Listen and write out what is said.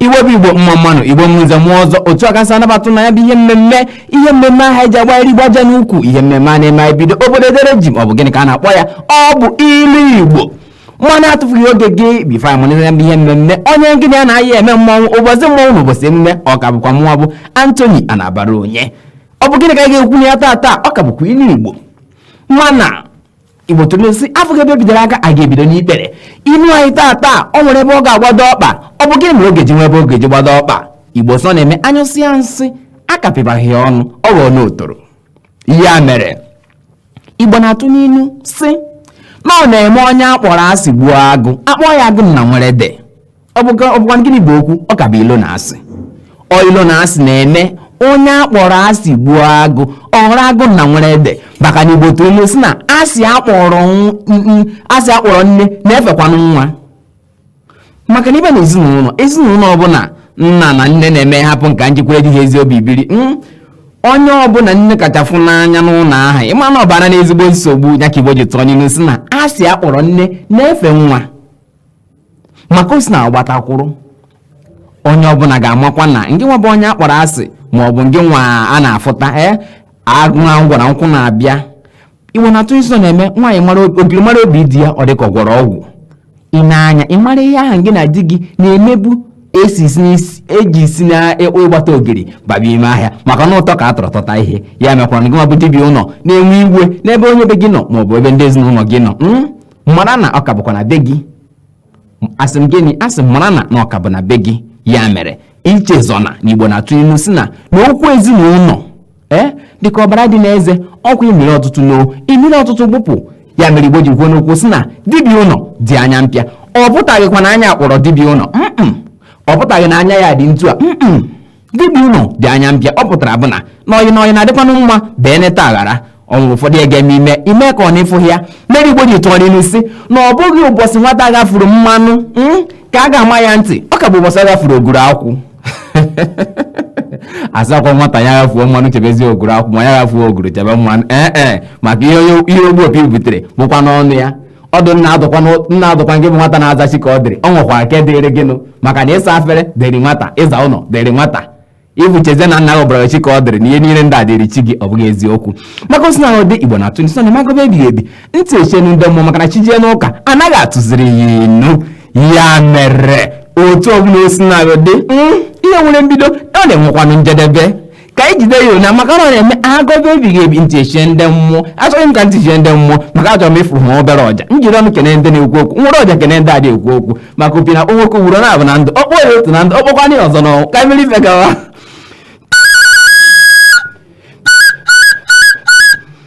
ibe bụ igbo mma mma nụ igbo mma nze mma ọzọ otu a ka m si anabata na ya bụ ihe mmemme ihe mmemme ahụ eji agbagharị igbo aja n'ukwu ihe mmemme a na-eme anyị bido obodo edere jii ma ọ bụ gịnị ka a na-akpọ ya ọ bụ ilu igbo mana atụfughị oge gị bifo anyị mụnye ya bụ ihe mmemme onye gị na ya na-ayị eme mmọnwụ ụbọchị mmọnwụ na ụbọchị emume ọ ka bụkwa mụnwa bụ Anthony Anabaraonye ọ bụ gịnị ka anyị ga-ekwu na ya taata ọ ka bụkwa ilu igbo mana igbo tụrụ inu sị afụghị ebe e bidoro aka a ga-ebido n'ikpere inu anyị taa taa ọ nwere ebe ọ ga-agbado ọkpa ọ bụ gịnị mere ọ ga-eji nwee ebe ọ ga-eji gbado ọkpa igbo sị na-eme anyụsịa nsị akapịbaghị ya ọnụ ọ ghọọnụ otoro ya mere igbo na-atụ n'inu sị na ọ na-eme onye akpọrọ asị gbuo agụ a kpọọ ya agụ na nwere ede ọ bụkwa gịnị bụ okwu ọ ka bụ ilo na asị ọ ilo na asị na-eme onye akpọrọ asị gbuo agụ ọ bụrụ agụ na nwere ede maka na igbo tụrụ inu si na asị akpọrọ asị akpọrọ nne na-efekwanụ nwa maka na ị bịa n'ezinụlọ ezinụlọ ọbụla nna na nne na-eme hapụ nka njikwere di ha ezi obi biri hmm? onye ọbụla nne kacha fụ n'anya n'ụlọ ahụ ịma na ọ bara n'ezigbo nsogbu ya ka igbo ji tụọ n'ilu si na asị akpọrọ nne na-efe nwa maka o si na agbatakwụrụ onye ọbụla ga-amakwa na ngị nwa bụ onye a kpọrọ asị ma ọ bụ ngị nwa a na-afụta ee agụ na ngwara nkwụ na-abịa iwe na-atụ isi ọ na-eme nwaanyị mara obi- ogiri mara obi di ya ọ dị ka ọ gwọrọ ọgwụ ị na-anya ị mara ihe ahụ gị na di gị na-emebu esi isi n'isi- eji isi na ịkpụ ịgbata ogiri baba ime ahịa maka na ụtọ ka a tọrọ tọta ihe ya mekwaa na gị nwa bụ dibi ụlọ na-enwe iwe n'ebe onye be gị nọ maọbụ ebe ndị ezinụlọ gị nọ mm? mara na ọ ka bụkwa na be gị asị m gịnị asị m mara na na ọ ka bụ na be gị ya mere ichezọna na igbo na-atụ ilu si na na okwu ezinụlọ ee dịka ọbara dị n'eze ọkwa imere ọtụtụ noo imere ọtụtụ gbụpụ ya mere igbo ji kwuo n'okwu si na dibi ụlọ dị anya mpịa ọ pụtaghịkwa na anya kpọrọ dibi ụlọ mm ọ pụtaghị na anya ya dị ntu a mm dibi ụlọ dị anya mpịa ọ pụtara bụ na n'ọyị n'ọyị na-adịkwanụ mma bee neta aghara ọ nwere ụfọdụ ihe ga-eme i mee i mee ka ọ na ị fụghị ya mere igbo ji tụọ n'ilu si na ọ bụghị ụbọchị nwata ghafuru mmanụ mm, ka a ga-ama ya ntị ọ ka bụ ụbọchị ọ ghafuru oguru akwụ asịkwa nwata ya ghafuo mmanụ chebezi oguru akwụ ma ya ghafuo oguru chebe mmanụ ee e maka ihe onye- ihe ogbu opi butere bụkwanụ ọnụ ya ọ dị nna adụkwa nna adụkwa nke bụ nwata na-azachi ka ọ dịrị ọ nwekwa nke dịrị gịnụ maka na ịsa afere dịrị nwata ịza ụlọ dịrị nwata ịbụ cheze na nna gị ọbara chi ka ọ dịrị na ihe niile ndị a dịrị chi gị ọ bụghị eziokwu maka osi na ndị igbo na-atụ inu sị na magobe ebighị ebi ntị echienụ ndị mmụọ maka na chi jee n'ụka anaghị atụziri ya inu ya mere otu ọbụla osi na dị hmm, ihe nwere mbido na-enwekwanụ njedebe ka anyị jide ya ụnya maka na ọ na-eme agọba ebighị ebi ntị echie ndị mmụọ achọghị m ka ntị chie ndị mmụọ maka achọrọ m ịfụrụ ha obere ọja m jiri ọnụ kene ndị na-ekwu okwu m were ọja kene ndị adị ekwu okwu maka opi na-akpọ nwoke ugboro naabọ na ndụ ọ kpọọ ya otu na ndụ ọ kpọkwana ya ọzọ n'ọnwụ ka m mere ife gawa